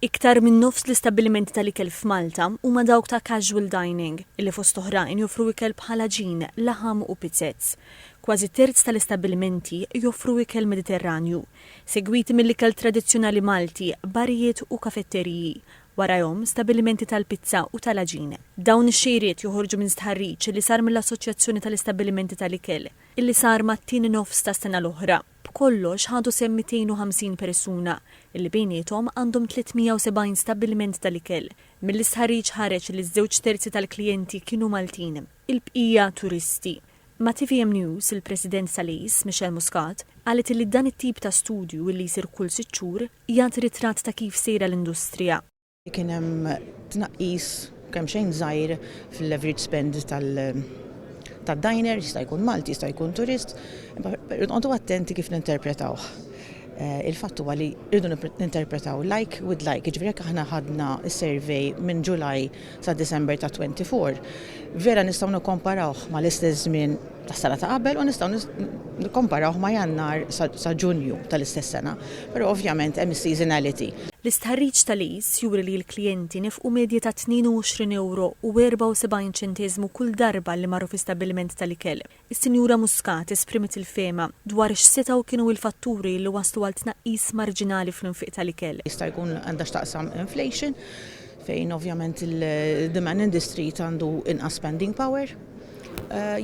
Iktar minn nofs l-istabbilimenti tal-ikel f'Malta huma dawk ta' casual dining, li fost oħrajn joffru ikel bħal għaġin, laħam u pizzez. Kważi terz tal-istabbilimenti joffru ikel Mediterranju, segwiti mill-ikel tradizzjonali Malti, barijiet u kafetteriji, warajhom stabbilimenti tal-pizza u tal-għaġin. Dawn ix-xejriet joħorġu minn stħarriġ li sar mill-Assoċjazzjoni tal-Istabbilimenti tal-Ikel, li sar mat-tieni nofs tas-sena l-oħra. B'kollox ħadu sehem 250 persuna, li bejniethom għandhom 370 stabbiliment tal-ikel. Mill-istħarriġ ħareġ li ż-żewġ terzi tal-klijenti kienu Maltin, il-bqija turisti. Ma' tvm News, il-President tal-ACE, Michelle Muscat, qalet li dan it-tip ta' studju, li jsir kull sitt xhur, jagħti ritratt ta' kif sejra l-industrija. Kien hemm tnaqqis kemxejn żgħir fil-leverage spend tad-diner, jista' jkun Malti, jista' jkun turist, imma nqogħdu attenti kif ninterpretawh. Eh, il-fatt huwa li rridu ninterpretaw like with like, jiġifieri jekk aħna ħadna s-survey minn July sa December ta' 24, vera nistgħu nikkomparawh mal-istess żmien tas-sena ta' qabel u nistgħu nikkomparawh ma' Jannar sa Ġunju tal-istess sena, però ovvjament hemm is-seasonality. L-istħarriġ ta' Lease juri li l-klijenti nefqu medja ta' 22 ewro u 74 ċentesmu kull darba li marru fi stabbiliment tal-ikel. Is-Sinjura Muscat esprimiet il-fehma dwar x'setgħu kienu il-fatturi li wasslu għal tnaqqis marġinali fl-infiq tal-ikel. Jista' jkun għandha x'taqsam inflation fejn ovvjament il-demand industry għandu inqas spending power.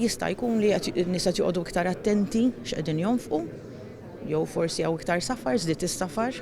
Jista' jkun li qed in-nies qed joqogħdu iktar attenti x'qegħdin jonfqu, jew forsi hawn iktar safar, żdied is-safar.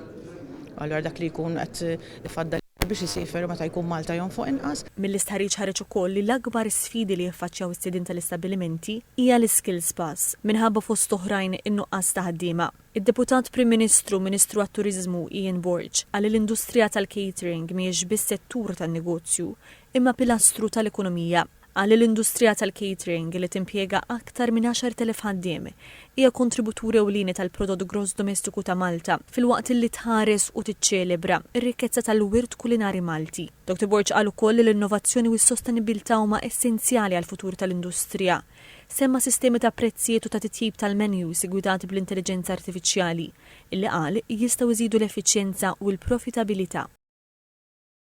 Allura dak li jkun qed ifaddal biex isiefer meta jkun Malta jonfoq inqas. Mill-istħarriġ ħareġ ukoll li l-akbar sfidi li jiffaċċjaw is-sidien tal-istabbilimenti hija l-iskills pass, minħabba fost oħrajn in-nuqqas ta' ħaddiema. Id-Deputat Prim Ministru u Ministru għat-Turiżmu Ian Borg qal li l-industrija tal-catering mhijiex biss settur tan-negozju, imma pilastru tal-ekonomija. Qal li l-industrija tal-catering, li timpjega aktar minn 10,000 ħaddiem, hija kontributur ewlieni tal-prodott gross domestiku ta' Malta, filwaqt li tħares u tiċċelebra r-rikkezza tal-wirt kulinari Malti. Doctor Borg qal ukoll li l-innovazzjoni u s-sostenibbiltà huma essenzjali għall-futur tal-industrija. Semma sistemi ta' prezzijiet u ta' titjib tal-menus iggwidati bl-intelliġenza artifiċjali, illi qal jistgħu jżidu l-effiċjenza u l-profitabilità.